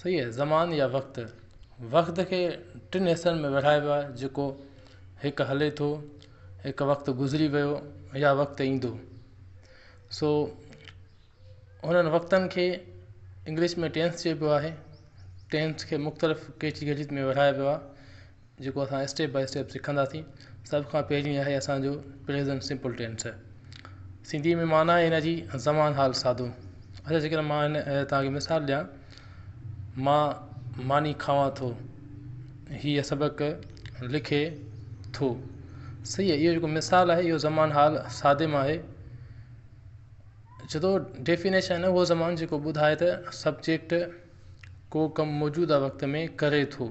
صحيح آهي زمان يا وقت وقت کي ٽن حصن ۾ ورهائبو آهي جيڪو هڪ هلي ٿو هڪ وقت گذري ويو يا وقت ايندو سو هنن وقتن کي انگلش ۾ ٽينس چئبو آهي ٽينس کي مختلف ڪيٽيگريز ۾ ورهائبو آهي جيڪو اسان اسٽيپ بائي اسٽيپ سکنداسين سڀ کان پهرين آهي اسانجو پريزنٽ سمپل ٽينس سنڌي ۾ معنيٰ آهي ان جي زمان حال سادو اچا جي ڪڏهن معنيٰ آهي تاڪي مثال ڏيان مان ماني کاوان ٿو هيء سبق لکي ٿو صحيح اهو جيڪو مثال آهي اهو زمان حال سادي مان آهي ڇو ٿو ڊيفينيشن هو زمان جيڪو ٻڌائي ته سبجيڪٽ ڪو ڪم موجوده وقت ۾ ڪري ٿو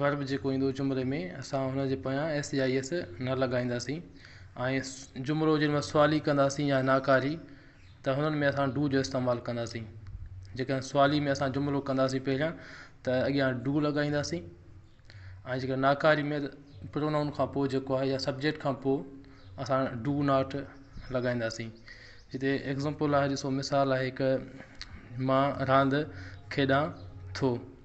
Verb، جيڪو ايندو جملي ۾ اسان ان جي پويان ايس يا ايس نه لڳائينداسين ۽ جملو جنھن ۾ سوالي ڪنداسين يا ناڪاري ته انھن ۾ اسان ڊو جو استعمال ڪنداسين جيڪڏھن سوالي ۾ اسان جملو ڪنداسين پهريان ته اڳيان ڊو لڳائينداسين ۽ جيڪڏھن ناڪاري ۾ Pronoun کان پوء جيڪو آھي يا Subject کان پوء اسان ڊو ناٽ لڳائينداسين ھتي Example آھي ڏسو مثال آھي ھڪ مان راند کيڏان ٿو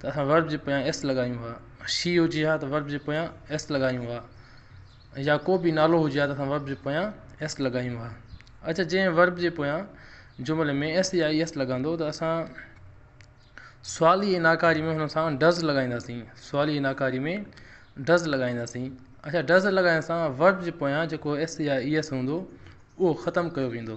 ته اسان ورب جي پويان ايس لڳايون ها ۽ شي هجي ها ته ورب جي پويان ايس لڳايون ها ۽ يا ڪو به نالو هجي ها ته اسان ورب جي پويان ايس لڳايون ها. اچا جنهن ورب جي پويان جملي ۾ ايس يا ايس لڳندو ته اسان سوالي ۽ ناڪاري ۾ هن سان ڊز لڳائينداسين سوالي ۽ ناڪاري ۾ ڊز لڳائينداسين اچا ڊز لڳائڻ سان ورب جي پويان جيڪو ايس يا ايس هوندو اهو ختم ڪيو ويندو.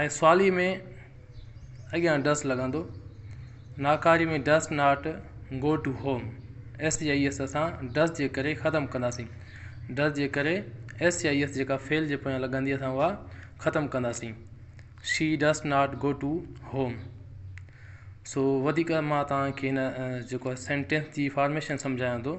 ۽ سوالي ۾ اڳيان ڊس لڳندو ناڪاري ۾ does not go to home S يا ايس اسان ڊس جي ڪري ختم ڪنداسين ڊس جي ڪري ايس يا ايس جيڪا فعل جي پويان لڳندي اسان اها ختم ڪنداسين she does not go to home سو وڌيڪ مان توهان کي هن جيڪو سينٽينس جي فارميشن سمجهايان ٿو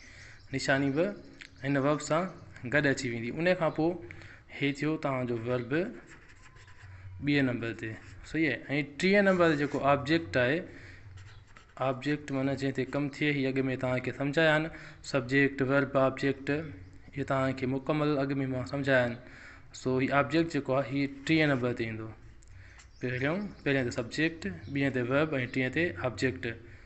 نشاني به هن verb سان گڏ اچي ويندي ان کان پوء هي ٿيو توهان جو verb ٻئي نمبر تي صحيح آهي ۽ ٽئين نمبر جيڪو آبجيڪٽ آهي آبجيڪٽ معنی جنهن تي ڪم ٿئي هي اڳ ۾ توهانکي سمجهايا آهن سبجيڪٽ verb آبجيڪٽ اهي توهانکي مڪمل اڳ ۾ مان سمجهايا آهن سو هي آبجيڪٽ جيڪو آهي هي ٽئين نمبر تي ايندو پهريون پهريون تي سبجيڪٽ ٻئي تي verb ۽ ٽئين تي آبجيڪٽ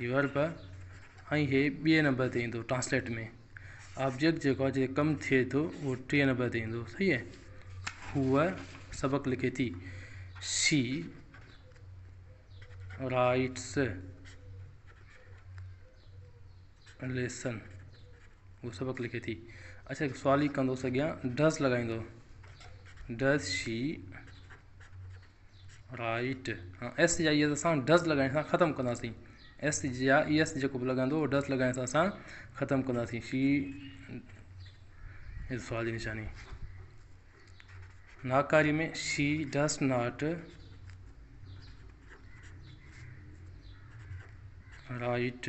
ورب ۽ هي ٻئي نمبر تي ايندو ٽرانسليٽ ۾ آبجيڪٽ جيڪو آهي جيڪو ڪم ٿئي ٿو اهو ٽئين نمبر تي ايندو صحيح آهي هوء سبق لکي ٿي شي رائٽس ليسن هو سبق لکي ٿي اچھا هڪ سوال ئي ڪندوس اڳيان ڊز لڳائيندو ڊز شي رائٽ ۽ ايس جي آء ايس اسان ڊز لڳائڻ سان ختم ڪنداسين ايس جي آء اي ايس جيڪو بھ لڳندو اھو ڊز لڳائڻ سان اسان ختم ڪنداسين شي ھي سوال جي نشاني ناڪاري ۾ شي ڊز ناٽ رائٽ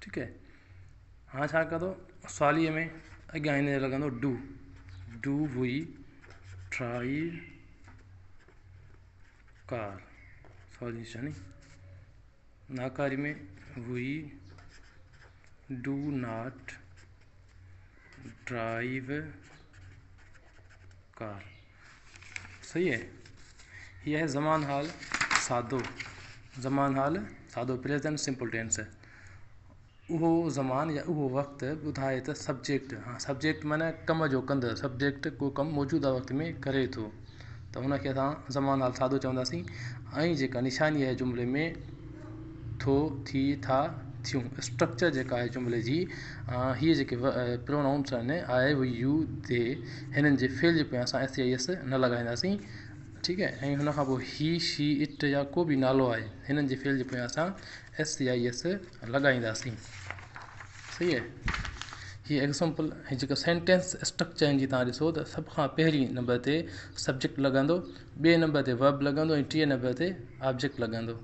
ٺيڪ هي هاڻي ڇا ڪندو سؤاليء ۾ اڳيان هن لڳندو do do we try car سؤال جي نشاني ناڪاري ۾ we do not drive car صحيح اهي هي آهي زمان حال سادو زمان حال سادو پريزنٽ سمپل ٽينس اهو زمان يا اهو وقت ٻڌائي ته سبجيڪٽ ها سبجيڪٽ معنيٰ ڪم جو ڪندڙ سبجيڪٽ ڪو ڪم موجوده وقت ۾ ڪري ٿو ته هن کي اسان زمان حال سادو چونداسين ۽ جيڪا نشاني آهي جملي ۾ ٿو ٿي ٿا ٿيون اسٽرڪچر جيڪا آهي جملي جي هي جيڪي پرونائونس آهن آء وي يو دي هنن جي فعل جي پويان اسان ايس يا ايس نه لڳائينداسين ٺيڪ آهي ۽ هن کان پوء هي شي اٽ يا ڪو به نالو آهي هنن جي فعل جي پويان اسان ايس يا ايس لڳائينداسين صحيح آهي هي ايگزامپل هي جيڪا سينٽينس اسٽرڪچر آهن جي تان ڏسو ته سڀ کان پهرين نمبر تي سبجيڪٽ لڳندو ٻئي نمبر تي ورب لڳندو ۽ ٽئين نمبر تي آبجيڪٽ لڳندو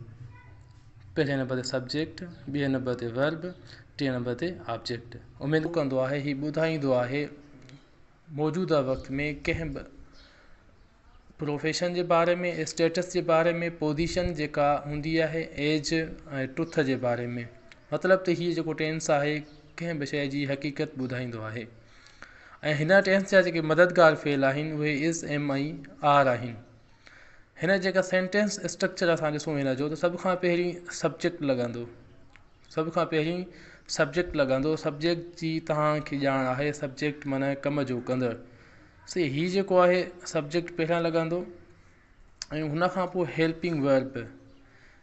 پهرين نمبر تي سبجيڪٽ، ٻئي نمبر تي ورب، ٽئين نمبر تي آبجيڪٽ. اميد ڪندو آهي هي ٻڌائيندو آهي موجوده وقت ۾ ڪنهن به پروفيشن جي باري ۾ اسٽيٽس جي باري ۾ پوزيشن جيڪا هوندي آهي ايج ۽ ٽوٿ جي باري ۾ مطلب ته هي جيڪو ٽينس آهي ڪنهن به شيء جي حقيقت ٻڌائيندو آهي ۽ هن ٽينس جا جيڪي مددگار فعل آهن اهي از ايم ۽ آر آهن هن جيڪا سينٽينس اسٽرڪچر اسان ڏسون هن جو ته سڀ کان پهرين سبجيڪٽ لڳندو سڀ کان پهرين سبجيڪٽ لڳندو سبجيڪٽ جي تهانکي ڄاڻ آهي سبجيڪٽ معنيٰ ڪم جو ڪندڙ سي هي جيڪو آهي سبجيڪٽ پهريان لڳندو ۽ هن کان پوء helping verb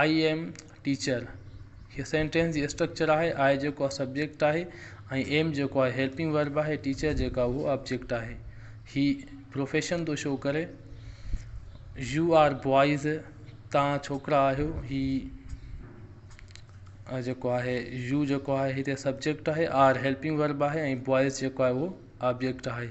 I am teacher هي سينٽينس جي اسٽرڪچر آهي آء جيڪو آهي سبجيڪٽ آهي ۽ ايم جيڪو آهي هيلپنگ ورب آهي ٽيچر جيڪو آهي اهو آبجيڪٽ آهي هي پروفيشن ٿو شو ڪري يو آر بوائز تان ڇوڪرا آهيو هي جيڪو آهي يو جيڪو آهي هتي سبجيڪٽ آهي آر هيلپنگ ورب آهي ۽ بوائز جيڪو آهي اهو آبجيڪٽ آهي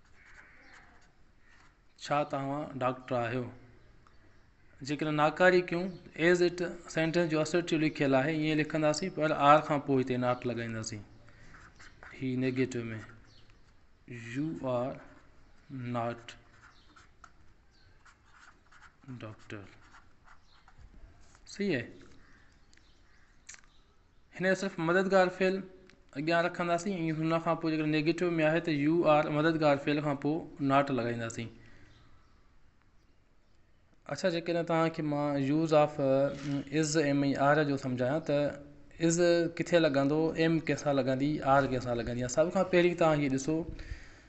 ڇا توهان ڊاڪٽر آهيو؟ جيڪڏهن ناڪاري ڪيون ايز اٽ سينٽينس جو اسرٽيو لکيل آهي ائين لکنداسين پر آر کان پوء هتي ناٽ لڳائينداسين هي negative ۾ you are not doctor صحيح هن کي صرف مددگار فعل اڳيان رکنداسين ۽ ان کان پوء جيڪڏهن نيگيٽو ۾ آهي ته يو آر مددگار فعل کان پوء ناٽ لڳائينداسين اڇا جيڪڏهن توهان کي مان use of is am ۽ are جو سمجهايان ته از ڪٿي لڳندو ايم ڪنهن سان لڳندي آر ڪنهن سان لڳندي سڀ کان پهرين توهان هي ڏسو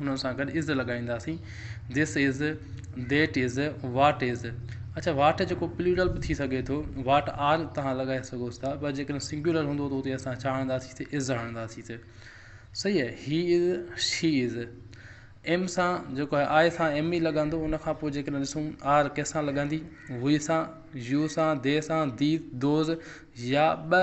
ان سان گڏ از لڳائينداسين This is That is What is اڇا واٽ جيڪو پليورل به ٿي سگهي ٿو واٽ آر توهان لڳائي سگهو ٿا پر جيڪڏهن سنگيولر هوندو ته اتي اسان ڇا هڻنداسين اتي از هڻنداسين صحيح آهي هي از شي از ايم سان جيڪو آهي آء سان ايم ئي لڳندو ان کان پوء جيڪڏهن ڏسون آر ڪنهن سان لڳندي وي سان يو سان دي سان ديز دوز يا ٻه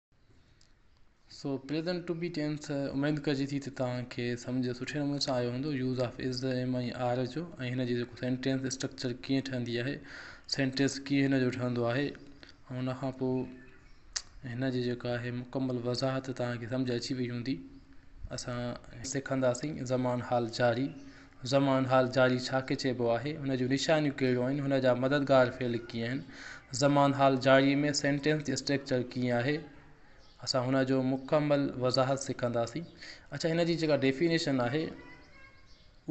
سو پريزنٽ ٽو بي ٽينس اميد ڪجي ٿي ته توهان کي سمجهه سٺي نموني سان آيو هوندو use of is am ۽ are جو ۽ هن جي جيڪو سينٽينس اسٽرڪچر ڪيئن ٺهندي آهي سينٽيس ڪيئن هن جو ٺهندو آهي ۽ ان کان پوء هن جي جيڪا آهي مڪمل وضاحت توهان کي سمجهه اچي وئي هوندي اسان سکنداسين زمان حال جاري زمان حال جاري ڇا کي چئبو آهي؟ ان جون نشانيون ڪهڙيون آهن؟ هن جا مددگار فعل ڪيئن آهن؟ زمان حال جاري ۾ سينٽينس جي اسٽريڪچر ڪيئن آهي؟ اسان هن جو مڪمل وضاحت سکنداسين. اڇا هن جي جيڪا ڊيفينيشن آهي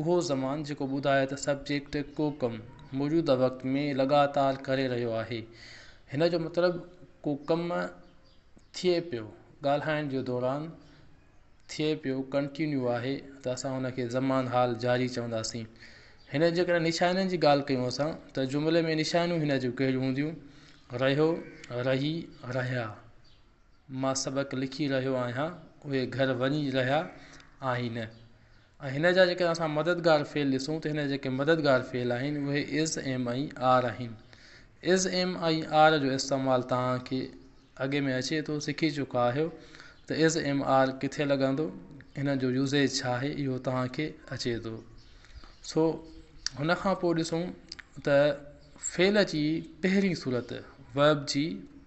اهو زمان جيڪو ٻڌائي ته سبجيڪٽ ڪو ڪم موجوده وقت ۾ لڳاتار ڪري رهيو آهي. هن جو مطلب ڪو ڪم ٿئي پيو ڳالهائڻ جي دوران. ٿئي پيو ڪنٽينيو آهي ته اسان ان کي زمان حال جاري چونداسين هن جي ڪري نشانين جي ڳالهه ڪيون اسان ته جملي ۾ نشانيون هن جون ڪهڙيون هونديون رهيو رهي رهيا مان سبق لکي رهيو آهيان اهي گهر وڃي رهيا آهن ۽ هن جا جيڪڏهن اسان مددگار فعل ڏسون ته هن جا جيڪي مددگار فعل آهن اهي از ايم ۽ آر آهن از ايم ۽ آر جو استعمال توهان کي اڳي ۾ اچي ٿو سکي چڪا آهيو ته از ايم آر ڪٿي لڳندو هن جو يوزيج ڇا آهي اهو توهان کي اچي ٿو سو هن کان پوء ڏسون ته فعل جي پهرين صورت ويب جي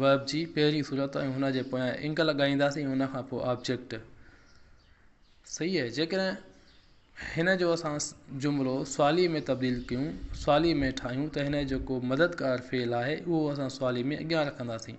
Verb جي پهرين صورت ۽ هن جي پويان انگ لڳائينداسين ۽ ان کان پوء آبجيڪٽ صحيح آهي جيڪڏهن هن جو اسان جملو سوالي ۾ تبديل ڪيون سوالي ۾ ٺاهيون ته هن جو ڪو مددگار فعل آهي اهو اسان سوالي ۾ اڳيان رکنداسين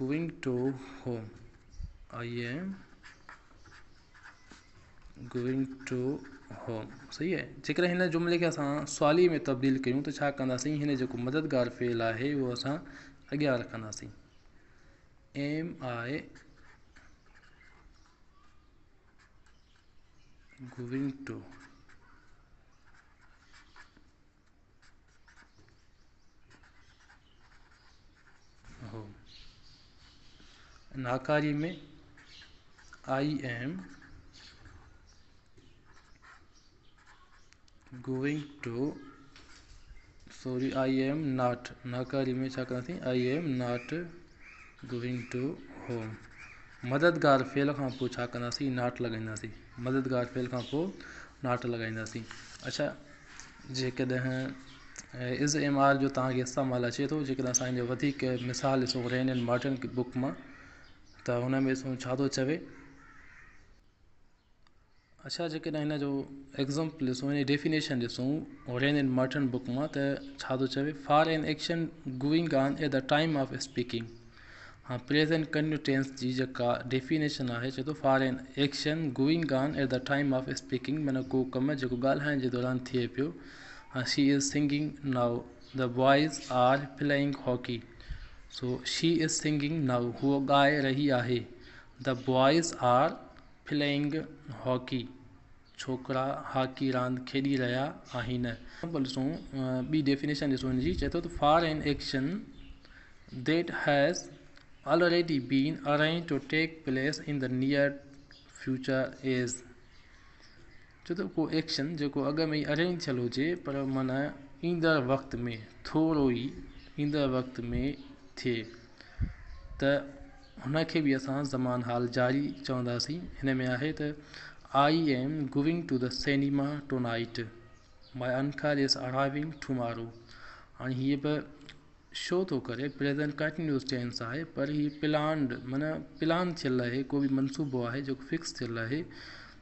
going to home I am going to home صحيح آهي جيڪڏهن هن جملي کي اسان سوالي ۾ تبديل ڪيون ته ڇا ڪنداسين هن جيڪو مددگار فعل آهي اهو اسان اڳيان رکنداسين ايم آئي گوئنگ ٽو ناڪاري ۾ I am going to sorry I am not ناڪاري ۾ ڇا ڪياسين I am not going to home مددگار فعل کان پوء ڇا ڪنداسين ناٽ لڳائينداسين مددگار ڦيل کان پوء ناٽ لڳائينداسين. اڇا جيڪڏهن از ايم آر جو توهان کي استعمال اچي ٿو جيڪڏهن اسان ان جو وڌيڪ مثال ڏسون رين اينڊ مارٽن بوڪ مان ته هن ۾ ڏسون ڇا ٿو چوي. اڇا جيڪڏهن هن جو ايگزامپل ڏسون يعني ڊيفينيشن ڏسون رين اينڊ مارٽن بوڪ مان ته ڇا ٿو چوي for an action going on at the time of speaking هاڻ پريزنٽ ڪنٽينيوس ٽينس جي جيڪا ڊيفينيشن آهي چئي ٿو for an action going on at the time of speaking معنيٰ ڪو ڪم جيڪو ڳالهائڻ جي دوران ٿئي پيو هاڻ she is singing now the boys are playing hockey so she is singing now هوء ڳائي رهي آهي the boys are playing hockey ڇوڪرا هاڪي راند کيڏي رهيا آهن. اهو ڏسو ٻي ڊيفينيشن ڏسو هن جي چئي ٿو ته for an action that has already been arrange to take place in the near future as چئي ٿو ڪو ايڪشن جيڪو اڳ ۾ ئي ارينج ٿيل هجي پر معنيٰ ايندڙ وقت ۾ ٿورو ئي ايندڙ وقت ۾ ٿئي. ته هن کي به اسان زمان حال جاري چونداسين هن ۾ آهي ته I am going to the cinema tonight my uncle is ارائيونگ tomorrow هاڻي هي به شو ٿو ڪري پريزنٽ ڪنٽينيوس ٽينس آهي پر هي پلانڊ معنيٰ پلان ٿيل آهي ڪو بي منصوبو آهي جيڪو فڪس ٿيل آهي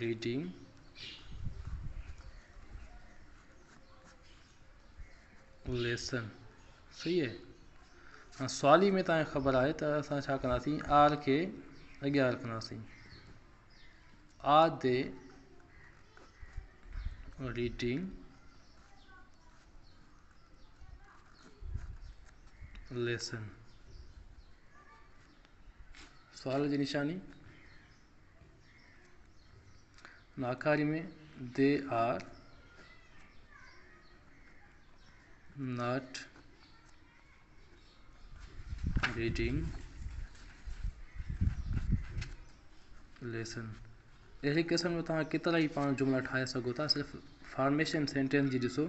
Reading، Lesson، صحيح آهي هاڻ سوالي ۾ توهان کي خبر آهي ته اسان ڇا ڪنداسين آر کي اڳيان رکنداسين آ تي Reading، Lesson، سوال جي نشاني ناڪاري ۾ they are not reading lesson اهڙي قسم جو تان ڪيترا ئي پاڻ جملا ٺاهي سگهو ٿا صرف فارميشن سينٽينس جي ڏسو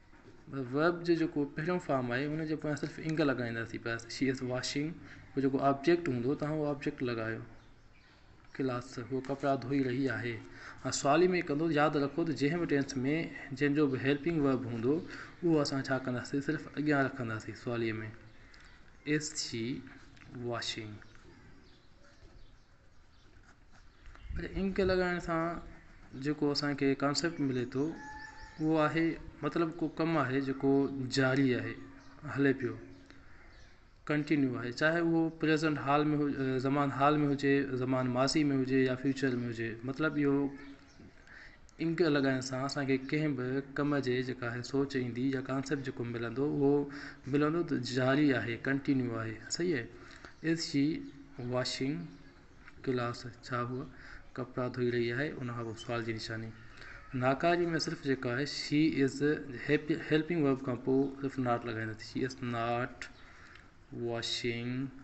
Verb جو جيڪو پهريون فارم آهي ان جي پويان صرف ing لڳائينداسين bus She is washing جو جيڪو آبجيڪٽ هوندو توهان اهو آبجيڪٽ لڳايو ڪلاس هو ڪپڙا ڌوئي رهي آهي ۽ سوالي ۾ ڪندو ياد رکو ته جنهن به ٽينس ۾ جنهن جو به هيلپنگ ورب هوندو اهو اسان ڇا ڪنداسين صرف اڳيان رکنداسين سوالي ۾ از شي واشنگ پر انڪ لڳائڻ سان جيڪو اسانکي ڪانسيپٽ ملي ٿو اهو آهي مطلب ڪو ڪم آهي جيڪو جاري آهي هلي پيو ڪنٽينيو آهي چاهي اهو پريزنٽ حال ۾ هو زمان حال ۾ هجي زمان ماضي ۾ هجي يا فيوچر ۾ هجي مطلب اهو انڪ لڳائڻ سان اسان کي ڪنهن به ڪم جي جيڪا هي سوچ ايندي يا ڪانسيپٽ جيڪو ملندو اهو ملندو ته جاري آهي ڪنٽينيو آهي صحيح آهي ايس جي واشنگ ڪلاس ڇا هو ڪپڙا ڌوئي رهي آهي ان کان پوء سوال جي نشاني ناڪاري ۾ صرف جيڪا آهي she is happy helping verb کان پوء صرف ناٽ لڳائي رکي شي ايز ناٽ واشنگ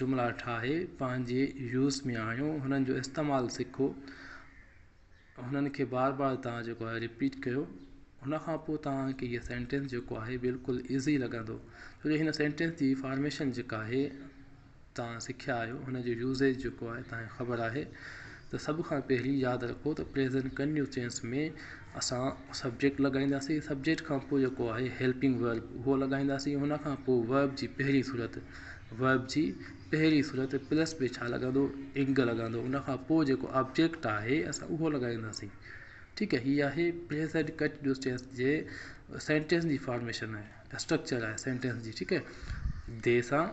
جملا ٺاهي پنهنجي يوز ۾ آڻيو هنن جو استعمال سکو هنن کي بار بار تان جيڪو آهي رپيٽ ڪيو هن کان پوء تان کي هي سينٽينس جيڪو آهي بلڪل ايزي لڳندو ڇو جو هن سينٽينس جي فارميشن جيڪا آهي تان سکيا آهيو هن جو يوزيج جيڪو آهي تان کي خبر آهي ته سڀ کان پهرين ياد رکو ته پريزنٽ ڪنٽينيوس ٽينس ۾ اسان سبجيڪٽ لڳائينداسين سبجيڪٽ کان پوء جيڪو آهي هيلپنگ ورب اهو لڳائينداسين ان کان پوء ورب جي پهرين صورت ورب جي پهرين صورت پلس ۾ ڇا لڳندو انگ لڳندو ان کان پوء جيڪو آبجيڪٽ آهي اسان اهو لڳائينداسين ٺيڪ آهي هي آهي پريزنٽ ڪنٽينيوس ٽينس جي سينٽينس جي فارميشن آهي اسٽرڪچر آهي سينٽينس جي ٺيڪ آهي دي سان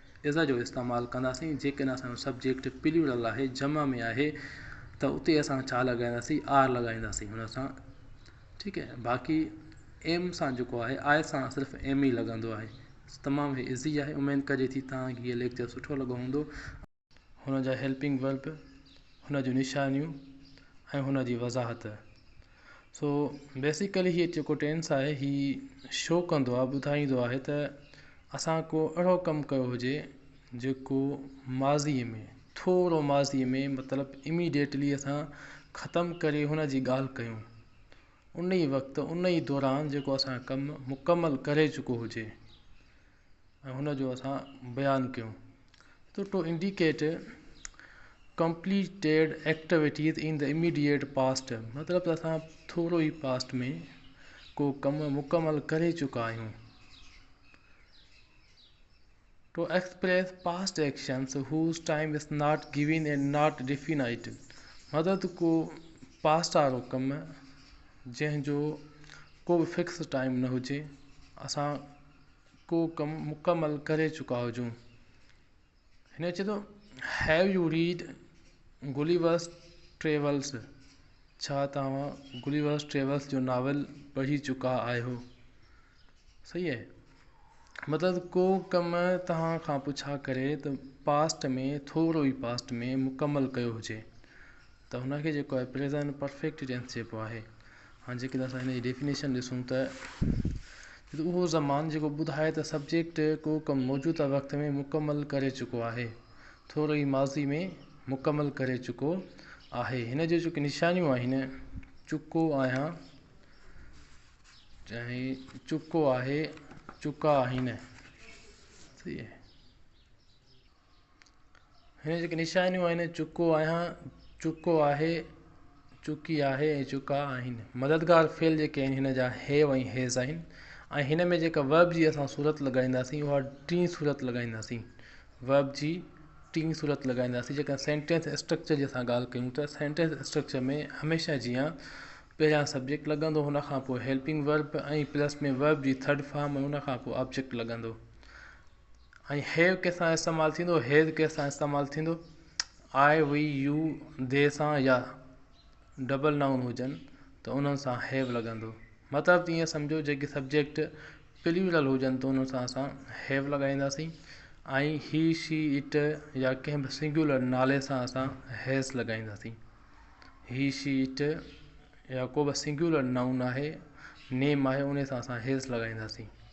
از جو استعمال ڪنداسين جيڪڏهن اسان جو سبجيڪٽ پليورل آهي جمع ۾ آهي ته اتي اسان ڇا لڳائينداسين آر لڳائينداسين ان سان ٺيڪ هي باقي ايم سان جيڪو آهي آء سان صرف ايم ئي لڳندو آهي تمام هي ايزي آهي اميد ڪجي ٿي توهان کي هي ليڪچر سٺو لڳو هوندو هن جا هيلپنگ ورب هن جون نشانيون ۽ هن جي وضاحت سو بيسيڪلي هي جيڪو ٽينس آهي هي شو ڪندو آهي ٻڌائيندو آهي ته اسان ڪو اهڙو ڪم ڪيو هجي جيڪو ماضي ۾ ٿورو ماضي ۾ مطلب اميڊيٽلي اسان ختم ڪري هن جي ڳالهه ڪيون ان ئي وقت ان ئي دوران جيڪو اسان ڪم مڪمل ڪري چڪو هجي ۽ هن جو اسان بيان ڪيون. تو to indicate completed activities in the immediate past مطلب ته اسان ٿورو ئي پاسٽ ۾ ڪو ڪم مڪمل ڪري چڪا آهيون. To express past actions whose time is not given and not definite مطلب ته ڪو پاسٽ وارو ڪم جنهن جو ڪو به فڪس ٽائيم نه هجي اسان ڪو ڪم مڪمل ڪري چڪا هجون. هن چيو ته Have you read Gulliver's Travels؟ ڇا توهان Gulliver's Travels جو ناول پڙهي چڪا آهيو؟ صحيح اهي مطلب ڪو ڪم توهان کان پڇا ڪري ته Past ۾ ٿورو ئي Past ۾ مڪمل ڪيو هجي. ته هن کي جيڪو آهي پريزنٽ پرفيڪٽ ٽينس چئبو آهي هاڻي جيڪڏهن اسان هن جي ڊيفينيشن ڏسون ته اهو زمان جيڪو ٻڌائي ته سبجيڪٽ ڪو ڪم موجوده وقت ۾ مڪمل ڪري چڪو آهي ٿورو ئي ماضي ۾ مڪمل ڪري چڪو آهي هن جون جيڪي نشانيون آهن چڪو آهيان چاهي چڪو آهي چڪا آهن سي هن جي نشانيون آهن چڪو آهيان چڪو آهي چڪي آهي ۽ چڪا آهن مددگار فعل جيڪي آهن هن جا هيو ۽ هيز آهن ۽ هن ۾ جيڪا ويب جي اسان صورت لڳائينداسين اها ٽي صورت لڳائينداسين ويب جي ٽي صورت لڳائينداسين جيڪا سينٽينس اسٽرڪچر جي اسان ڳالهه ڪيون ته سينٽينس اسٽرڪچر ۾ هميشه جيان پهريان سبجيڪٽ لڳندو هن کان پوء هيلپنگ ويب ۽ پلس ۾ ويب جي ٿرڊ فارم ۽ هن کان پوء آبجيڪٽ لڳندو ۽ هيو ڪنهن سان استعمال ٿيندو هيد ڪنهن سان استعمال ٿيندو آء وئي يو دي سان يا ڊبل نائون هجن ته انهن سان هيو لڳندو مطلب ته ائين سمجهو جيڪي سبجيڪٽ پليورل هجن ته انهن سان اسان هيو لڳائينداسين ۽ هي شي اٽ يا ڪنهن به سنگيولر نالي سان اسان هيس لڳائينداسين هي شي اٽ يا ڪو به سنگيولر نائون آهي نيم آهي ان سان اسان هيس لڳائينداسين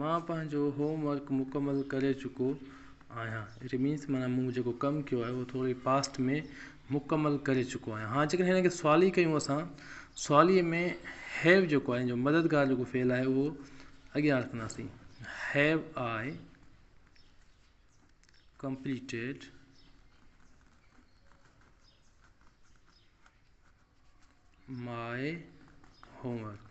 مان پنهنجو هوم ورڪ مڪمل ڪري چڪو آهيان اٽ مينس معنيٰ مون جيڪو ڪم ڪيو آهي اهو ٿوري پاسٽ ۾ مڪمل ڪري چڪو آهيان هاڻ جيڪڏهن هن کي سوالي ڪيون اسان سوالي ۾ هيو جيڪو آهي ان جو مددگار جيڪو فعل آهي اهو اڳيان رکنداسين have I completed my homework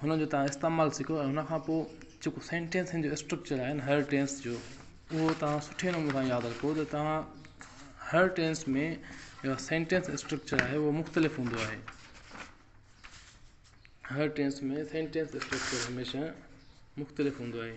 هن جو تهان استعمال سکو ۽ هن کان پوء جيڪو سينٽينسن جو اسٽرڪچر آهي هر ٽينس جو اهو تهان سٺي نموني سان ياد رکو ته تهان هر ٽينس ۾ جيڪا سينٽينس اسٽرڪچر آهي اهو مختلف هوندو آهي هر ٽينس ۾ سينٽينس اسٽرڪچر هميشه مختلف هوندو آهي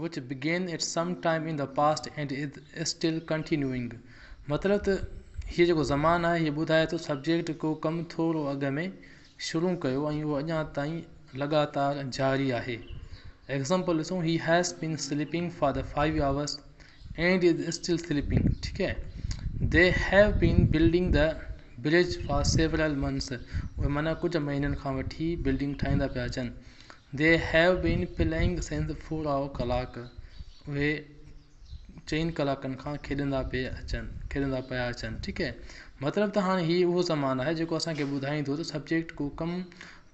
which begin at some time in the past and is still continuing مطلب ته هيء جيڪو زمان آهي هيء ٻڌائي ٿو سبجيڪٽ ڪو ڪم ٿورو اڳ ۾ شروع ڪيو ۽ اهو اڃا تائين لڳاتار جاري آهي ايگزامپل ڏسون he has been sleeping for the five hours and is still sleeping ٺيڪ هي the have been building the bridge for several months اهي معنيٰ ڪجهه مهينن کان وٺي بلڊنگ ٺاهيندا پيا اچن They have been playing since فورا ڪلاڪ اهي چئن ڪلاڪن کان کيڏندا پئي اچن کيڏندا پيا اچن ٺيڪ هي مطلب ته هاڻي هي اهو زمان آهي جيڪو اسان کي ٻڌائيندو ته سبجيڪٽ ڪو ڪم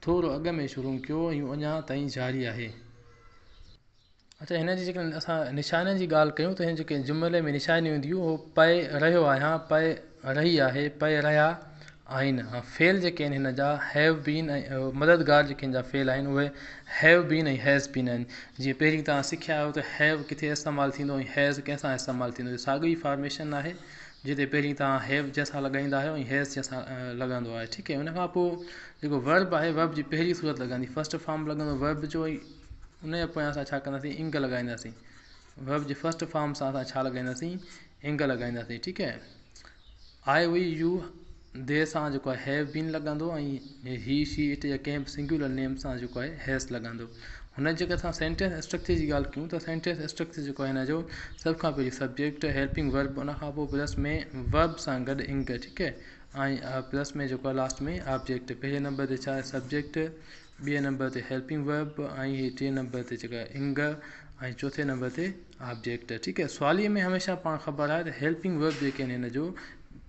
ٿورو اڳ ۾ شروع ڪيو هيون اڃا تائين جاري آهي. اچا هن جي جيڪڏهن اسان نشانين جي ڳالهه ڪيون ته هن جي جيڪي جملي ۾ نشانيون اينديون هو پئي رهيو آهيان پئي رهي آهي پئي رهيا آهن فعل جيڪي آهن هن جا هيو بين ۽ مددگار جيڪي هن جا فعل آهن اهي هيو بين ۽ هيز بين آهن جيئن پهرين تان سکيا آهيو ته هيو ڪٿي استعمال ٿيندو ۽ هيز ڪنهن سان استعمال ٿيندو هي ساڳئي فارميشن آهي جتي پهرين تان هيو جنهن سان لڳائيندا آهيو ۽ هيز جنهن سان لڳندو آهي ٺيڪ هي ان کان پوء جيڪو ورب آهي ورب جي پهرين صورت لڳندي فسٽ فارم لڳندو ورب جو ۽ ان جي پويان اسان ڇا ڪنداسين انگ لڳائينداسين ويب جي فسٽ فارم سان اسان ڇا لڳائينداسين انگ لڳائينداسين ٺيڪ هي آء وئي يو دي سان جيڪو آهي هيو بين لڳندو ۽ هي شي اٽ جا ڪنهن به سنگيولر نيم سان جيڪو آهي هيس لڳندو هن جي جيڪي اسان سينٽينس اسٽرڪچر جي ڳالهه ڪيون ته سينٽينس اسٽرڪچر جيڪو آهي هن جو سڀ کان پهرين سبجيڪٽ هيلپنگ ورب ان کان پوء پلس ۾ ورب سان گڏ انگ ٺيڪ هي ۽ پلس ۾ جيڪو آهي لاسٽ ۾ آبجيڪٽ پهرين نمبر تي ڇا آهي سبجيڪٽ ٻئي نمبر تي هيلپنگ ورب ۽ ٽئين نمبر تي جيڪا انگ ۽ چوٿين نمبر تي آبجيڪٽ ٺيڪ آهي سوالي ۾ هميشه پاڻ خبر آهي ته هيلپنگ ورب جيڪي آهن هن جو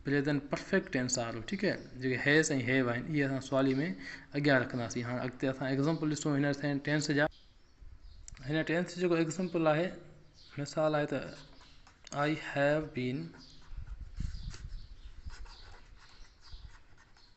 پريزنٽ پرفيڪٽ ٽينس آ رهو ٺيڪ آهي جيڪي هيس ۽ هيو آهن اهي اسان سوالي ۾ اڳيان رکنداسين هاڻ اڳتي اسان ايگزامپل ڏسون هن سين ٽينس جا هن ٽينس جيڪو ايگزامپل آهي مثال آهي ته آئي هيو بين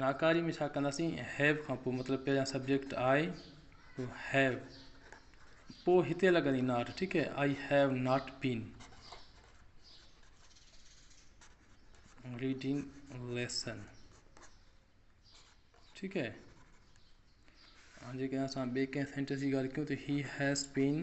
ناڪاري ۾ ڇا ڪنداسين have کان پوء مطلب پهريان سبجيڪٽ I پوء have پوء هتي لڳندي not ٺيڪ هي I have not been reading lesson ٺيڪ هي هاڻي جيڪڏهن اسان ٻئي ڪنهن سينٽينس جي ڳالهه ڪيون ته he has been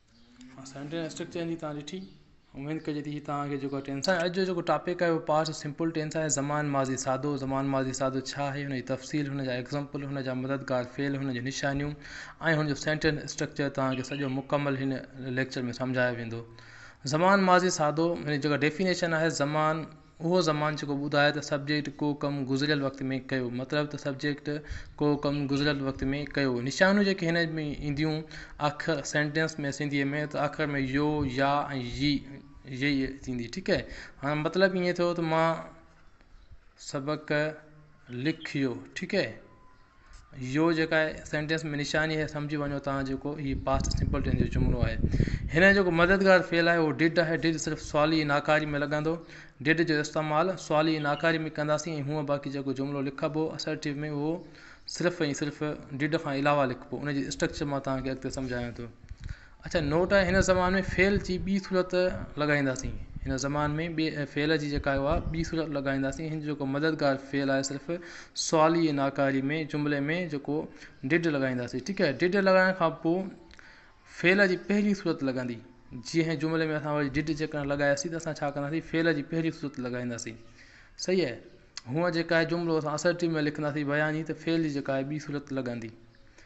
central structure جي تان ڏٺي اميد ڪجي ٿي تان کي جيڪو ٽينسان اڄ جو جيڪو ٽاپڪ آهي اهو پاسٽ سمپل ٽينس آهي زمان ماضي سادو زمان ماضي سادو ڇا آهي ان جي تفصيل ان جا ايگزامپل ان جا مددگار فعل ان جون نشانيون ۽ ان جو سينٽرل اسٽرڪچر تان کي سڄو مڪمل هن ليڪچر ۾ سمجهايو ويندو زمان ماضي سادو ان جي جيڪا ڊيفينيشن آهي زمان اهو زمان جيڪو ٻڌائي ته سبجيڪٽ ڪو ڪم گذريل وقت ۾ ڪيو مطلب ته سبجيڪٽ ڪو ڪم گذريل وقت ۾ ڪيو نشانيون جيڪي هن ۾ اينديون آخر سينٽينس ۾ سنڌي ۾ ته آخر ۾ يو يا ۽ يي يئي ٿيندي ٺيڪ اهي هاڻ مطلب ائين ٿيو ته مان سبق لکيو ٺيڪ اهي. يو جيڪا آهي سينٽينس ۾ نشاني آهي سمجهي وڃو تان جيڪو هي پاسٽ سمپل ٽينس جو جملو آهي هن جو جيڪو مددگار فعل آهي اهو ڊڊ آهي ڊڊ صرف سوالي ۽ ناڪاري ۾ لڳندو ڊڊ جو استعمال سوالي ۽ ناڪاري ۾ ڪنداسين ۽ هونء باقي جيڪو جملو لکبو اسرٽيو ۾ اهو صرف ۽ صرف ڊڊ کان علاوه لکبو ان جي اسٽرڪچر مان توهان کي اڳتي سمجهايان ٿو اچا نوٽ هن زمان ۾ فعل جي ٻي صورت لڳائينداسين هن زمان ۾ ٻي فعل جي جيڪا اها ٻي صورت لڳائينداسين هن جو جيڪو مددگار فعل آهي صرف سوالي ۽ ناڪاري ۾ جملي ۾ جيڪو ڊڊ لڳائينداسين ٺيڪ آهي ڊڊ لڳائڻ کان پوء فعل جي پهرين صورت لڳندي جي هن جملي ۾ اسان وري ڊڊ جيڪا لڳاياسين ته اسان ڇا ڪنداسين فعل جي پهرين صورت لڳائينداسين صحيح آهي هونء جيڪا جملو اسان اسرٽيو ۾ لکنداسين بياني ته فعل جي جيڪا آهي ٻي صورت لڳندي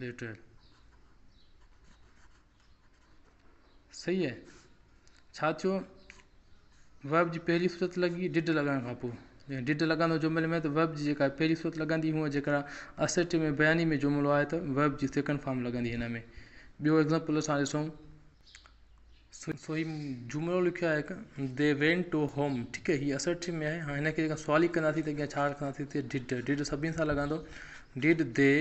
بيٽر صحيح آهي ڇا ٿيو ويب جي پهرين صورت لڳي ڊڊ لڳائڻ کان پوء جڏهن ڊڊ لڳندو جملي ۾ ته ويب جي جيڪا پهرين صورت لڳندي هونئن جيڪا اسٽ ۾ بياني ۾ جملو آهي ته ويب جي سيڪنڊ فارم لڳندي هن ۾ ٻيو ايگزامپل اسان ڏسون سوئي جملو لکيو آهي هڪ They went to home ٺيڪ آهي هي Assertive ۾ آهي هاڻي هن کي جيڪڏهن سوالي ڪنداسين ته اڳيان ڇا رکنداسين هتي Did Did سڀني سان لڳندو Did they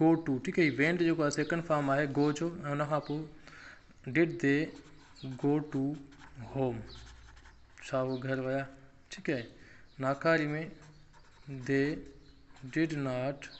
go to ٺيڪ آهي هي Went جيڪو آهي سيڪنڊ فارم آهي Go جو ۽ ان کان پوء Did they go to home ڇا هو گهر ويا ٺيڪ آهي ناڪاري ۾ They did not go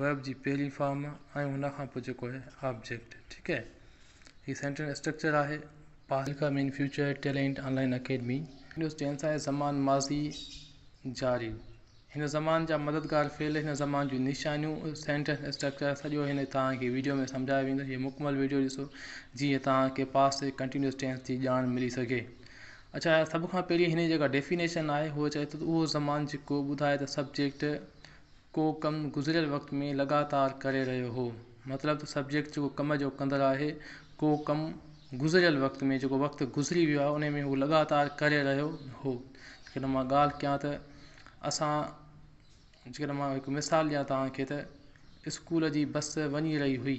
verb جي پهرين فارم ۽ ان کان پوء جيڪو آهي آبجيڪٽ ٺيڪ اهي هي سينٽنس اسٽرڪچر آهي پاسي مين فيوچر ٽيلينٽ آنلائن اڪيڊمي ونڊوز ٽين سان زمان ماضي جاري هن زمان جا مددگار فعل هن زمان جون نشانيون سينٽنس اسٽرڪچر سڄو هن توهان کي ويڊيو ۾ سمجهايو ويندو هي مڪمل ويڊيو ڏسو جيئن توهان کي پاسٽ ڪنٽينيوس ٽينس جي ڄاڻ ملي سگهي اڇا سڀ کان پهرين هن جي جيڪا ڊيفينيشن آهي هو چئي ٿو ته اهو زمان جيڪو ٻڌائي ته سبجيڪٽ ڪو ڪم گذريل وقت ۾ لڳاتار ڪري رهيو هو مطلب ته سبجيڪٽ جيڪو ڪم جو ڪندڙ آهي ڪو ڪم گذريل وقت ۾ جيڪو وقت گذري ويو آهي ان ۾ هو لڳاتار ڪري رهيو هو جيڪڏهن مان ڳالهه ڪيان ته اسان جيڪڏهن مان هڪ مثال ڏيان توهان کي ته اسڪول جي بس وڃي رهي هئي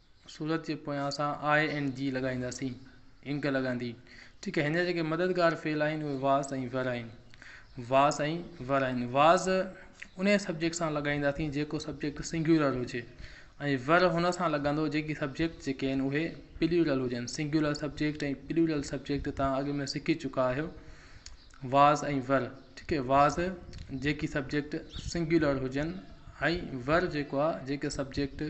سورت جي پويان اسان آء ۽ جي لڳائينداسين، انڪ لڳندي. ٺيڪ آهي، هن جا جيڪي مددگار فعل آهن اهي واس ۽ ور آهن. واس ۽ ور آهن. واس انهيء سبجيڪٽ سان لڳائينداسين جيڪو سبجيڪٽ سنگيولر هجي ۽ ور هن سان لڳندو جيڪي سبجيڪٽ جيڪي آهن اهي پليورل هجن. سنگيولر سبجيڪٽ ۽ پليورل سبجيڪٽ توهان اڳ ۾ سکي چڪا آهيو. واس ۽ ور ٺيڪ آهي، واس جيڪي سبجيڪٽ سنگيولر هجن ۽ ور جيڪو آهي جيڪي سبجيڪٽ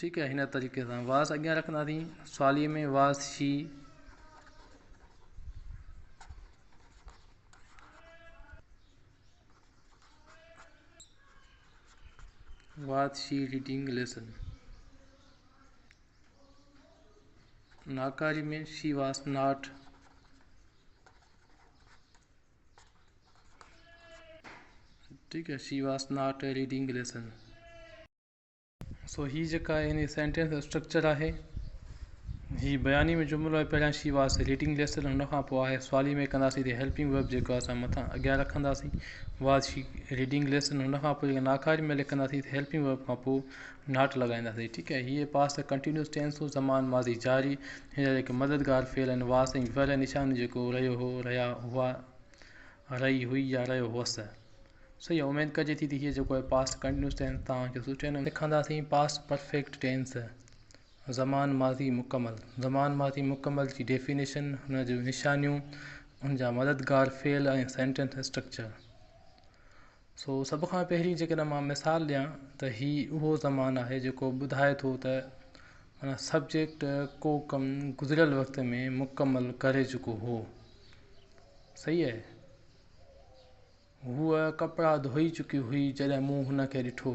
ٺيڪ آهي هن طريقي سان واس اڳيان رکنداسين سوالي ۾ was she was she reading lesson ناڪاري ۾ she was not She was not reading lesson. So هي جيڪا هن جي سينٽينس جو اسٽرڪچر آهي هي بياني ۾ جملو آهي پهريان شي واس ريڊنگ ليسن هن کان پوء آهي سوالي ۾ ڪنداسين تي هيلپنگ ويب جيڪو اسان مٿان اڳيان رکنداسين واز شي ريڊنگ ليسن هن کان پوء جيڪا ناکاري مهل ڪنداسين تي هيلپنگ ويب کان پوء ناٽ لڳائينداسين ٺيڪ آهي هيء پاس ته ڪنٽينيوس ٽينس هو زمان ماضي جاري هيء هڪ مددگار فعل آهن، واس ۽ وره ۽ نشان جيڪو رهيو هو، رهيا هئا، رهي هئي يا رهيو هوس. سو اها اميد ڪجي ٿي ته هيء جيڪو آهي Past Continuous Tense توهان کي سٺي نموني سکنداسين Past Perfect Tense زمان ماضي مڪمل زمان ماضي مڪمل جي ڊيفينيشن، ان جون نشانيون، ان جا مددگار فعل ۽ سينٽينس اسٽرڪچر. سو سڀ کان پهرين جيڪڏهن مان مثال ڏيان ته هي اهو زمان آهي جيڪو ٻڌائي ٿو ته معنيٰ سبجيڪٽ ڪو ڪم گذريل وقت ۾ مڪمل ڪري چڪو هو صحيح اهي هوء ڪپڙا ڌوئي چڪي هئي جڏهن مون هن کي ڏٺو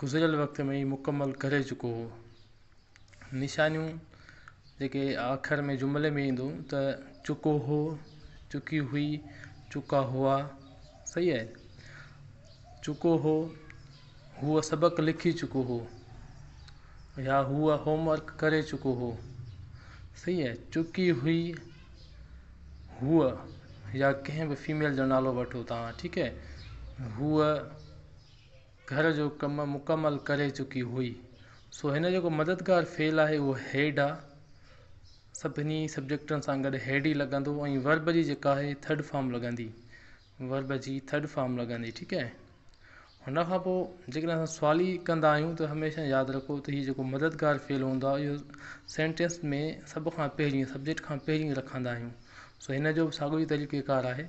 گذريل وقت ۾ ئي مڪمل ڪري چڪو هو. نشانيون جيڪي آخر ۾ جملي ۾ ايندو ته چڪو هو، چڪي هئي، چڪا هئا صحيح آهي چڪو هو هو سبق لکي چڪو هو يا هو هوم ورڪ ڪري چڪو هو صحيح آهي چڪي هئي هو يا ڪنهن به فيميل جو نالو وٺو تان ٺيڪ هي هو گهر جو ڪم مڪمل ڪري چڪي هئي سو هن جو جيڪو مددگار فعل آهي اهو هيڊ آ سڀني سبجيڪٽن سان گڏ هيڊ ئي لڳندو ۽ ورب جي جيڪا آهي ٿرڊ فارم لڳندي ورب جي ٿرڊ فارم لڳندي ٺيڪ آهي هن کان پوء جيڪڏهن اسان سوالي ڪندا آهيون ته هميشه ياد رکو ته هي جيڪو مددگار فعل هوندو آهي اهو سينٽينس ۾ سڀ کان پهرين سبجيڪٽ کان پهرين رکندا آهيون سو هن جو به ساڳيو ئي طريقيڪار آهي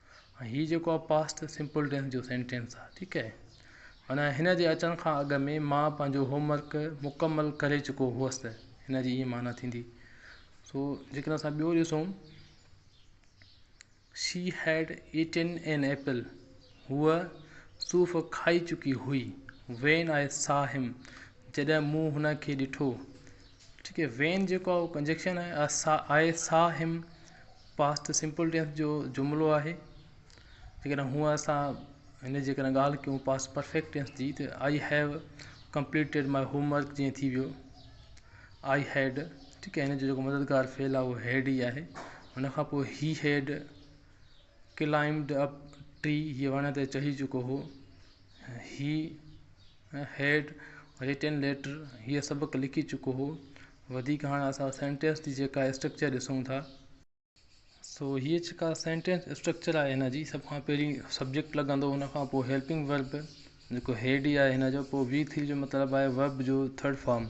هاڻي هي جيڪو آهي پاسٽ سمپل ٽينس جو سينٽينس آهي ٺيڪ آهي معنيٰ هن جي اچڻ کان اڳ ۾ مان پنهنجو هوم ورڪ مڪمل ڪري چڪو هئس هن جي ائين معنيٰ ٿيندي سو جيڪڏهن اسان ٻيو ڏسون she had eaten an apple هوء صوف کائي چڪي هئي وين آء سا هيم جڏهن مون هن کي ڏٺو ٺيڪ آهي وين جيڪو آهي اهو ڪنجيڪشن آهي سا I saw him past simple tense جو جملو آهي جيڪڏهن هونء سا هن جي ڪڏهن ڳالهه ڪيون پاسٽ پرفيڪٽ ٽينس جي ته I have completed my homework جيئن ٿي ويو آئي هيڊ ٺيڪ آهي هن جو جيڪو مددگار فعل آهي اهو هيڊ ئي آهي هن کان پوء he had climbed up tree هيء وڻ تي چڙهي چڪو هو هي هيڊ، Written Letter، هيء سبق لکي چڪو هو. وڌيڪ هاڻ اسان سينٽينس جي جيڪا اسٽرڪچر ڏسون ٿا. سو هيء جيڪا سينٽينس اسٽرڪچر آهي هن جي سڀ کان پهرين سبجيڪٽ لڳندو ان کان پوء هيلپنگ ورب جيڪو هيڊ ئي آهي هن جو پوء وي ٿري جو مطلب آهي ورب جو ٿرڊ فارم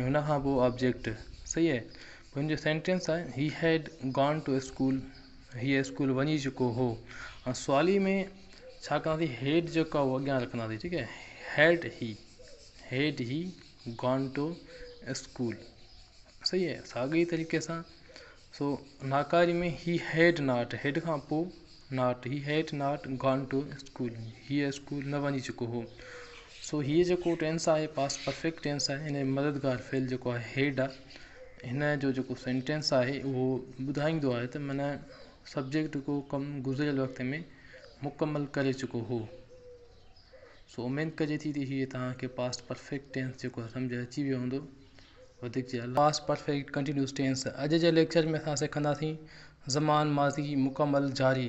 ۽ ان کان پوء آبجيڪٽ صحيح آهي پوء هن جو سينٽينس آهي he had gone to school. هيء اسڪول وڃي چڪو هو هاڻ سوالي ۾ ڇا ڪنداسين هيڊ جيڪو آهي اهو اڳيان رکنداسين ٺيڪ آهي had he had he gone to school صحيح آهي ساڳئي طريقي سان سو ناڪاري ۾ هي هيڊ ناٽ هيڊ کان پوء not he had not gone to school هيء اسڪول نه وڃي چڪو هو سو هيء جيڪو ٽينس آهي پاسٽ پرفيڪٽ ٽينس آهي ان جي مددگار فعل جيڪو آهي هيڊ آهي هن جو جيڪو سينٽينس آهي اهو ٻڌائيندو آهي ته معنيٰ سبجيڪٽ جيڪو ڪم گذريل وقت ۾ مڪمل ڪري چڪو هو سو اميد ڪجي ٿي ته هي توهان کي پاسٽ پرفيڪٽ ٽينس جيڪو آهي سمجھ اچي ويو هوندو وڌيڪ جي پاسٽ پرفيڪٽ ڪنٽينيوس ٽينس اڄ جي ليڪچر ۾ اسان سکنداسين زمان ماضي مڪمل جاري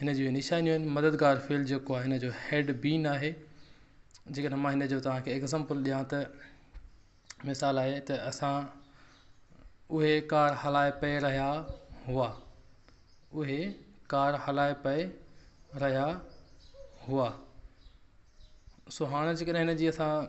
هن جون هي نشانيون آهن مددگار فعل جيڪو آهي هن جو هيڊ بين آهي جيڪڏهن مان هن جو توهان کي ايگزامپل ڏيان ته مثال آهي ته اسان اهي ڪار هلائي پئي رهيا هئا اهي ڪار هلائي پئي رهيا هئا سو هاڻ جيڪڏهن هن جي اسان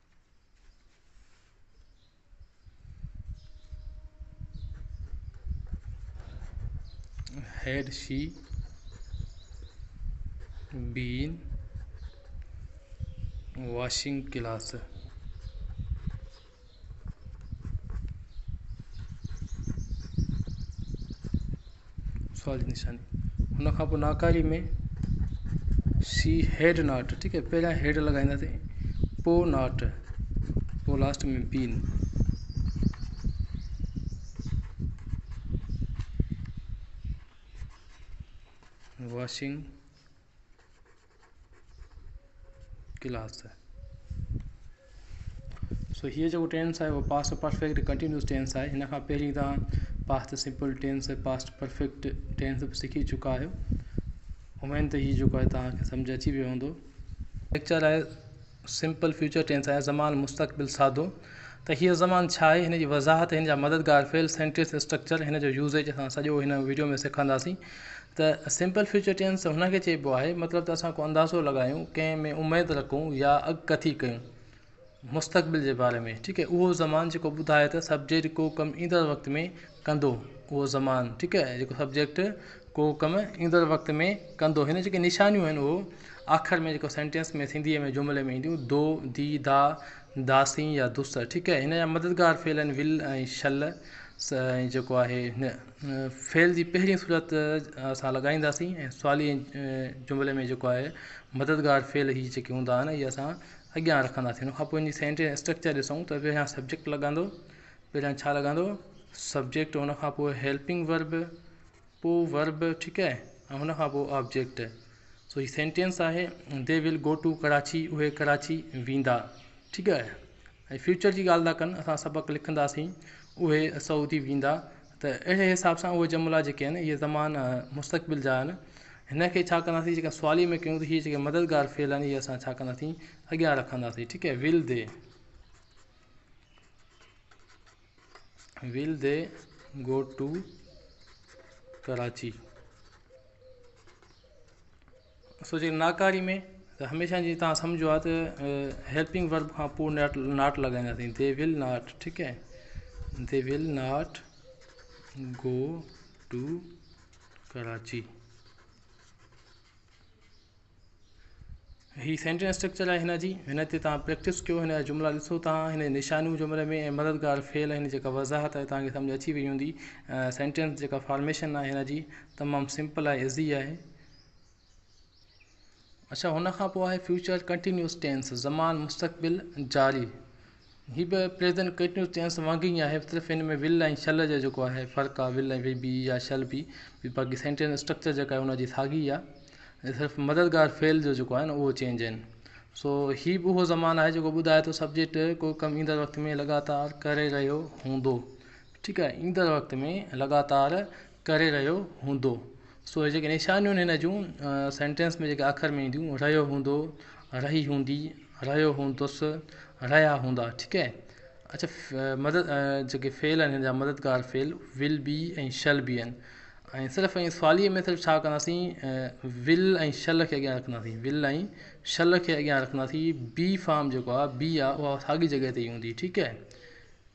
هيرشي بين واشنگ گلاس سوال جي نشاني ان کان پوء ناڪاري ۾ سي هيڊ ناٽ ٺيڪ آهي پهريان هيڊ لڳائينداسين پوء ناٽ پوء last ۾ been washing clothes so هيء جيڪو ٽينس آهي اهو پاسٽ پرفيڪٽ ڪنٽينيوس ٽينس آهي هن کان پهرين تان past simple tense past perfect tense به سکي چڪا آهيو اميد ته هيء جيڪو آهي تهان کي سمجهه اچي ويو هوندو ليڪچر آهي سمپل فيوچر ٽينس آهي، زمان مستقبل سادو، ته هيء زمان ڇا آهي، هن جي وضاحت ۽ هن جا مددگار فعل، سينٽينس اسٽرڪچر، هن جو يوزيج اسان سڄو هن وڊيو ۾ سکنداسين ته سمپل فيوچر ٽينس هن کي چئبو آهي مطلب ته اسان ڪو اندازو لڳايون، ڪنهن ۾ اميد رکون يا اڳڪٿي ڪيون مستقبل جي باري ۾، ٺيڪ اهو زمان جيڪو ٻڌائي ته سبجيڪٽ ڪو ڪم ايندڙ وقت ۾ ڪندو اهو زمان ٺيڪ آهي جيڪو سبجيڪٽ ڪو ڪم ايندڙ وقت ۾ ڪندو هن جيڪي نشانيون آهن اهو آخر ۾ جيڪو سينٽينس ۾ سنڌي ۾ جملي ۾ اينديون دو دي دا داسين يا دوس ٺيڪ آهي هن جا مددگار فعل آهن ول ۽ شل ۽ جيڪو آهي هن فعل جي پهرين صورت اسان لڳائينداسين ۽ سوالي جملي ۾ جيڪو آهي مددگار فعل هي جيڪي هوندا آهن اهي اسان اڳيان رکنداسين ان کان پوء ان جي سينٽينس اسٽرڪچر ڏسون ته پهريان سبجيڪٽ لڳندو پهريان ڇا لڳندو سبجيڪٽ ان کان پوء هيلپنگ ورب پوء ورب ٺيڪ آهي ۽ ان کان پوء آبجيڪٽ سو هي سينٽينس آهي they will go to Karachi اهي ڪراچي ويندا ٺيڪ آهي ۽ فيوچر جي ڳالهه ٿا ڪن اسان سبق لکنداسين اهي سعودي ويندا ته اهڙي حساب سان اهي جملا جيڪي آهن اهي زمان مستقبل جا آهن هن کي ڇا ڪنداسين جيڪا سوالي ۾ ڪيون ته هي جيڪي مددگار فعل آهن اهي اسان ڇا ڪنداسين اڳيان رکنداسين ٺيڪ آهي will they will they go to Karachi سو جي ناڪاري ۾ ته هميشه جي تان سمجهو آ ته هيلپنگ ورب کان پو ناٽ ناٽ لڳائيندا سين دي ويل ناٽ ٺيڪ هي they will not go to Karachi هي سينٽينس اسٽرڪچر آهي هن جي هن تي توهان پريڪٽس ڪيو هن جا جملا ڏسو توهان هن جي نشانيون جملي ۾ ۽ مددگار فعل هن جي جيڪا وضاحت آهي توهان کي سمجهه اچي وئي هوندي سينٽينس جيڪا فارميشن آهي هن جي تمام سمپل آهي ايزي آهي اڇا هن کان پوء آهي فيوچر ڪنٽينيوس ٽينس زمان مستقبل جاري هي به پريزن ڪيٽنيوز چينس وانگي ئي آهي صرف ان ۾ ول ۽ شل جو جيڪو آهي فرق آهي ول ۽ وي يا شل بي بي باقي سينٽينس اسٽرڪچر جيڪا آهي ان جي ساڳي ئي آهي صرف مددگار فعل جو جيڪو آهي نه اهو چينج آهن سو هي به اهو زمان آهي جيڪو ٻڌائي ٿو سبجيڪٽ ڪو ڪم ايندڙ وقت ۾ لڳاتار ڪري رهيو هوندو ٺيڪ آهي ايندڙ وقت ۾ لڳاتار ڪري رهيو هوندو سو جيڪي نشانيون هن جون سينٽينس ۾ جيڪي اکر مين ٿيون رهيو هوندو رهي هوندي رهيو هوندس رهيا هوندا ٺيڪ اهي اڇا مدد جيڪي فعل آهن هن جا مددگار فعل ول بي ۽ شل بي آهن ۽ صرف ۽ سوالي ۾ صرف ڇا ڪنداسين ول ۽ شل کي اڳيان رکنداسين ول ۽ شل کي اڳيان رکنداسين بي فارم جيڪو آهي بي آهي اها ساڳي جڳهه تي هوندي ٺيڪ اهي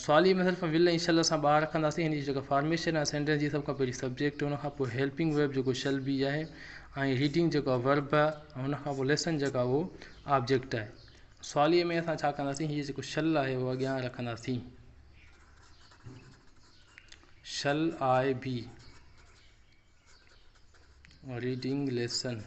سواليه ۾ صرف ول ۽ شل اسان ٻاهر رکنداسين هن جي جيڪا فارميشن آهي سينٽينس جي سڀ کان پهرين سبجيڪٽ ان کان پوء هيلپنگ ويرب جيڪو شل بي آهي ۽ ريڊنگ جيڪو آهي ورب آهي ۽ ان کان پوء ليسن جيڪو آهي اهو آبجيڪٽ آهي سواليه ۾ اسان ڇا ڪنداسين هيء جيڪو شل آهي اهو اڳيان رکنداسين shall I be reading lesson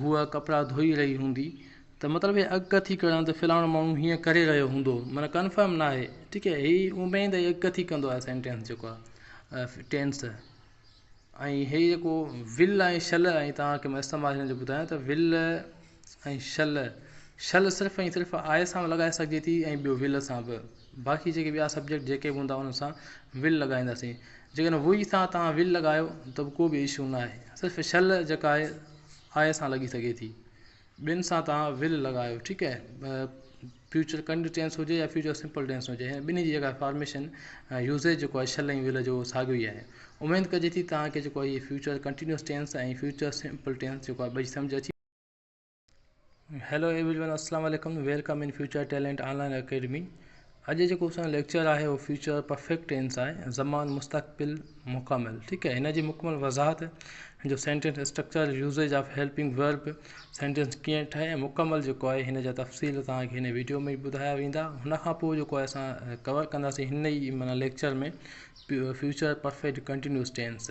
هوء ڪپڙا ڌوئي رهي هوندي ته مطلب هي اڳڪٿي ڪرڻ ته فلاڻو ماڻهو هيئن ڪري رهيو هوندو معنيٰ ڪنفرم ناهي ٺيڪ هي هي اميد هي اڳڪٿي ڪندو آهي سينٽينس جيڪو آهي ٽينس ۽ هي جيڪو ول ۽ شل ۽ تهانکي مان استعمال هن جو ٻڌايان ته ول ۽ شل شل صرف ۽ صرف آء سان به لڳائي سگهجي ٿي ۽ ٻيو ول سان به باقي جيڪي ٻيا سبجيڪٽ جيڪي به هوندا انهن سان ول لڳائينداسين جيڪڏهن وئي سان تهان ول لڳايو ته به ڪو به اشو ناهي صرف شل جيڪا آهي آء سان لڳي سگهي ٿي ٻين سان توهان ول لڳايو ٺيڪ اهي فيوچر ڪنڊ ٽينس هجي يا فيوچر سمپل ٽينس هجي هن ٻنهي جي جيڪا فارميشن ۽ يوزيج جيڪو آهي شل ۽ ول جو ساڳيو ئي آهي اميد ڪجي ٿي توهان کي جيڪو آهي هي future continuous tense ۽ future simple tense جيڪو آهي ٻئي سمجهه اچي هيلو ايوري ون السلام عليڪم welcome in future talent online academy اڄ جيڪو اسان جو ليڪچر آهي اهو فيوچر پرفيڪٽ ٽينس آهي زمان مستقبل مڪمل ٺيڪ آهي هن جي مڪمل وضاحت هن جو sentence structure usage of helping verb sentence ڪيئن ٺهي ۽ مڪمل جيڪو آهي هن جا تفصيل توهان کي هن ويڊيو ۾ ٻڌايا ويندا هن کان پوء جيڪو آهي اسان ڪور ڪنداسين هن ئي معنيٰ lecture ۾ future perfect continuous tense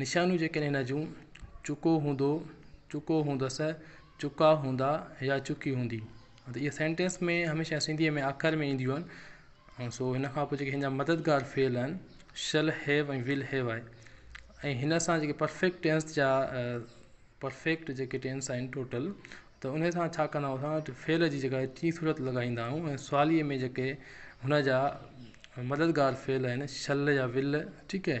نشانيون جيڪڏهن هن جون، چڪو هوندو، چڪو هوندس، چڪا هوندا يا چڪي هوندي. مطلب اهي سينٽينس ۾ هميشه سنڌيء ۾ آخر ۾ اينديون آهن ۽ سو هن کان پوء جيڪي هن جا مددگار فعل آهن شل هيو ۽ ول هيو آهي ۽ هن سان جيڪي پرفيڪٽ ٽينس جا پرفيڪٽ جيڪي ٽينس آهن ٽوٽل ته ان سان ڇا ڪندا آهيون اسان فعل جي جڳهه ٽي صورت لڳائيندا آهيون ۽ سواليء ۾ جيڪي هن جا مددگار فعل آهن شل يا ول ٺيڪ هي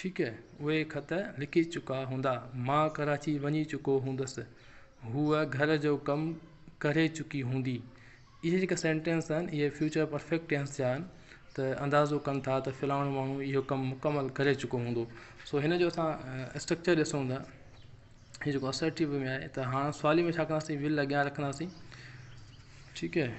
ٺيڪ اهي خط لکي چڪا هوندا. مان ڪراچي وڃي چڪو هوندس. هوء گهر جو ڪم ڪري چڪي هوندي. اهي جيڪي سينٽينس آهن اهي فيوچر پرفيڪٽ ٽينس جا آهن ته اندازو ڪن ٿا ته فلاڻو ماڻهو اهو ڪم مڪمل ڪري چڪو هوندو. سو هن جو اسان اسٽرڪچر ڏسون ٿا هي جيڪو اسرٽيو ۾ آهي ته هاڻ سوالي ۾ ڇا ڪنداسين ول اڳيان رکنداسين ٺيڪ اهي.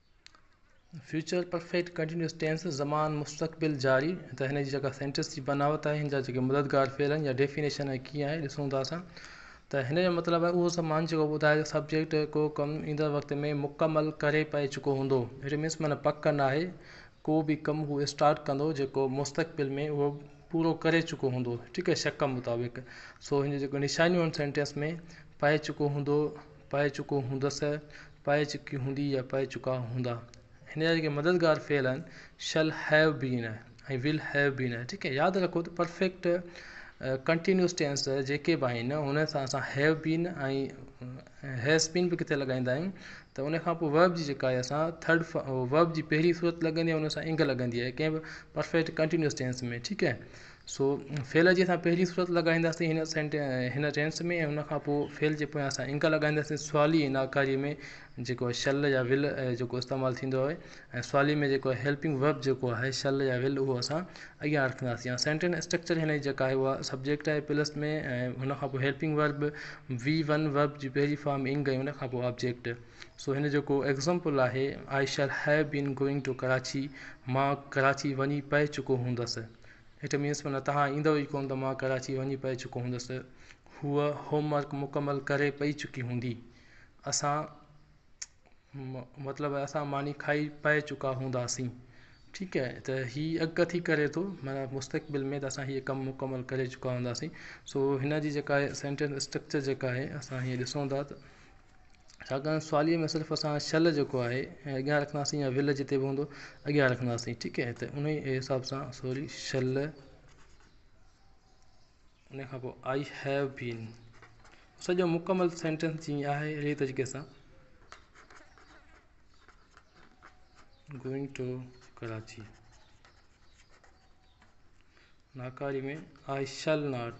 فيوچر پرفيڪٽ ڪنٽينيوس ٽينس، زمان مستقبل جاري، تي هن جي جيڪا سينٽينس جي بناوت آهي، هن جا جيڪي مددگار فعل آهن يا ڊيفينيشن آهي ڪيئن آهي ڏسون ٿا اسان ته هن جو مطلب آهي اهو زمان جيڪو ٻڌائي ته سبجيڪٽ ڪو ڪم ايندڙ وقت ۾ مڪمل ڪري پئي چڪو هوندو اٽ مينس معنيٰ پڪ ناهي ڪو به ڪم هو اسٽارٽ ڪندو جيڪو مستقبل ۾ اهو پورو ڪري چڪو هوندو ٺيڪ آهي شڪ مطابق سو هن جي جيڪو نشانيون آهن سينٽينس ۾ پائي چڪو هوندو پائي چڪو هوندس، پائي چڪي هوندي يا پائي چڪا هوندا. هن جا جيڪي مددگار فعل آهن Shall have been ۽ Will have been آهي ٺيڪ آهي ياد رکو ته پرفيڪٽ ڪنٽينيوس ٽينس جيڪي به آهن انهن سان اسان Have been ۽ Has been به ڪٿي لڳائيندا آهيون ته ان کان پوء Verb جي جيڪا آهي اسان ٿرڊ Verb جي پهرين صورت لڳندي آهي ان سان انگ لڳندي آهي ڪنهن به پرفيڪٽ ڪنٽينيوس ٽينس ۾ ٺيڪ آهي سو فعل جي اسان پهرين صورت لڳائينداسين هن سينٽ هن ٽينس ۾ ۽ ان کان پوء فعل جي پويان اسان انگ لڳائينداسين سوالي ۽ ناڪاري ۾ جيڪو آهي شل يا ول جيڪو استعمال ٿيندو آهي ۽ سوالي ۾ جيڪو هيلپنگ ورب جيڪو آهي شل يا ول اهو اسان اڳيان رکنداسين يا سينٽنس اسٽرڪچر هن جي جيڪا آهي اها سبجيڪٽ آهي پلس ۾ ۽ هن کان پوء helping verb V one verb جي پهرين فارم انگ ۽ ان کان پوء آبجيڪٽ سو هن جو ڪو ايگزامپل آهي I shall have been going to Karachi مان ڪراچي وڃي پئي چڪو هوندس اٽ مينس معنيٰ توهان ايندؤ ئي ڪونه ته مان ڪراچي وڃي پئي چڪو هوندس. هوء هوم ورڪ مڪمل ڪري پئي چڪي هوندي. اسان مطلب اسان ماني کائي پئي چڪا هونداسين. ٺيڪ آهي ته هي اڳ ٿي ڪري ٿو معنيٰ مستقبل ۾ ته اسان هيء ڪم مڪمل ڪري چڪا هونداسين. سو هن جي جيڪا آهي سينٽينس اسٽرڪچر جيڪا آهي اسان هيء ڏسون ٿا ته. ڇاڪاڻ سواليء ۾ صرف اسان شل جيڪو آهي ۽ اڳيان رکنداسين يا ول جتي به هوندو اڳيان رکنداسين ٺيڪ آهي ته انهي حساب سان سوري شل انهي کان پوء آئي هيو بين سڄو مڪمل سينٽينس جيئن آهي اهڙي طريقي سان گوئنگ ٽو ڪراچي ناڪاري ۾ آئي شل ناٽ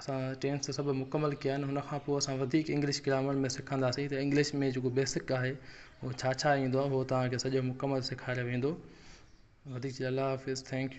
اسان ٽينس سڀ مڪمل ڪيا آهن ان کان پوء اسان وڌيڪ انگلش گرامر ۾ سکنداسين ته انگلش ۾ جيڪو بيسڪ آهي هو ڇا ڇا ايندو آهي هو تهان کي سڄو مڪمل سيکاريو ويندو وڌيڪ چي الله حافظ ٿينڪ يو